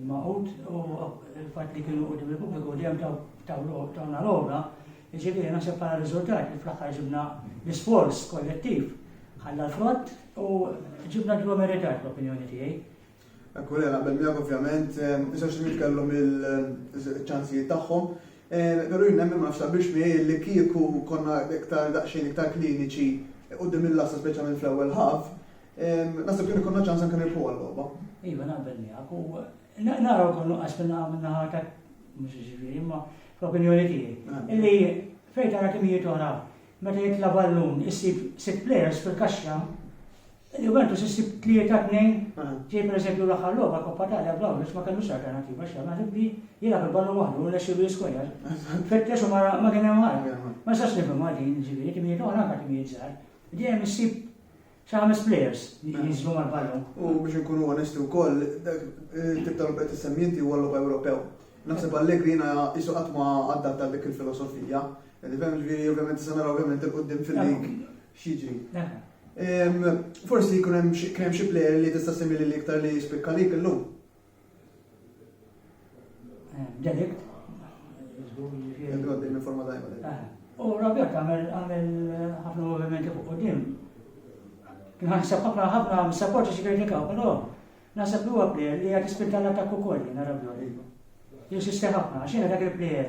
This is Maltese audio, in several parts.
Il-Magħqud u l-fatt li kienu quddiem il-pubbliku dejjem tawna l-għona, jiġifieri naħseb bħala riżultat li fl-aħħar ġibna l-isforz kollettiv ħalla l-frott u ġibna dlu meritat l-opinjoni tiegħi. Ekku li naqbel miegħek ovvjament, iżax li kellhom il-ċansijiet tagħhom, però jien nemmen ma nafx biex miegħi li kieku konna iktar daqsxejn iktar kliniċi qudiem il-lassa speċjalment fl-ewwel ħaf, Naħseb kien ikonna ċans anke nirbħu għal-logħba. Iva, naqbel miegħek u naraw kollu għax minna minna ħata mhux ġifieri, imma fl-opinjoni tiegħi. Ah. Illi fejn tara kemm jiet oħra meta jitla' ballun issib sitt players fil-kaxxa Juventus issib tlieta tnejn, ah. ġej per eżempju l-aħħar logħba Koppa Talja b'Lawrence ma kellux alternattiva xi naħseb li jilgħab il-ballun waħdu u nexxilu jiskwerja. Fittex u ma kien hemm ħadd. Ma sax nifhem għadin ġifieri timijiet oħra anke timijiet żgħar. Dejjem issib Xi ħames plejers li jinżlu mal-ballun. U biex inkunu onesti wkoll, dak it-tip ta' logħob qed issemmi inti huwa logħob Ewropew. Naħseb Allegri jiena qisu qatt ma adatta għal dik il-filosofija. Qed tifhem ġifieri ovvjament se naraw ovvjament il-quddiem fil-lig x'jiġri. Forsi jkun hemm xi plejer li tista' semmi lil iktar li jispikka lik illum. Delikt. Għaddi minn forma dajba. Eh, u Robert għamil għamil ħafna movimenti fuq u dim. Kien ħansab ħafna ħafna mis-sapporti xi kritikaw, però naħseb li huwa plejer li għad ispinta l-attakku kolli, nara Robert. Jinsisti ħafna, għax dak il-plejer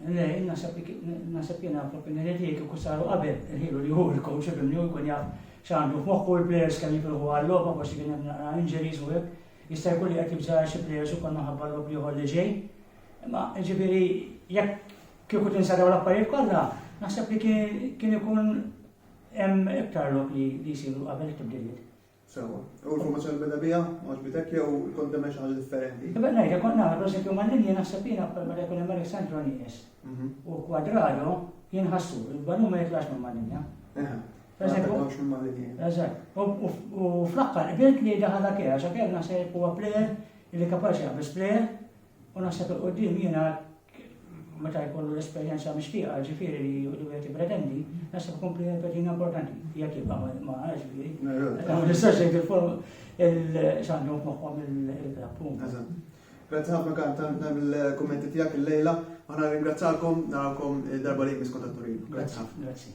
Le, naħseb li naħseb jiena fl-opinjoni tiegħi kieku saru qabel il-ħilu li hu l-coach ibimni u jkun jaf x'għandu f'moħħu l-players kemm jipruvu għal-logħba forsi kien hemm naqra injuries u hekk. Jista' jkun li qed jibża' xi players ukoll minħabba l-logħob ieħor li ġej. Imma ġifieri jekk kieku tinsaraw l-affarijiet kollha, naħseb li kien ikun hemm iktar lok li jsiru qabel it-tibdiliet. Sewwa. U l-formazzjoni li beda biha għaġbitek jew kont temmen xi ħaġa differenti? Iva nerġa' kont nagħmel prosekju mal-linja naħseb jiena wkoll meta jkun hemm Alessandro Nies u Quadrado jien ħassu il-balun ma jitlax minn mal-linja. Eżatt. U fl-aħħar qbilt li daħal Akea, għax Akea naħseb huwa plejer li kapaċi jaqbeż plejer U naħseb 'il quddiem jiena meta jkollu l-esperjenza mixtieqa, ġifieri li wieħed jippretendi, naħseb ikun pretendi importanti, jekk jibqa' ma ġifieri. Ma nistax jgħid il-form il-xandu f'moħħhom il-punta. Grazzi ħafna kan tal-kommenti tiegħek il-lejla, aħna ringrazzalkom, narawkom darba li jmiss kontatturin. Grazzi ħafna. Grazzi.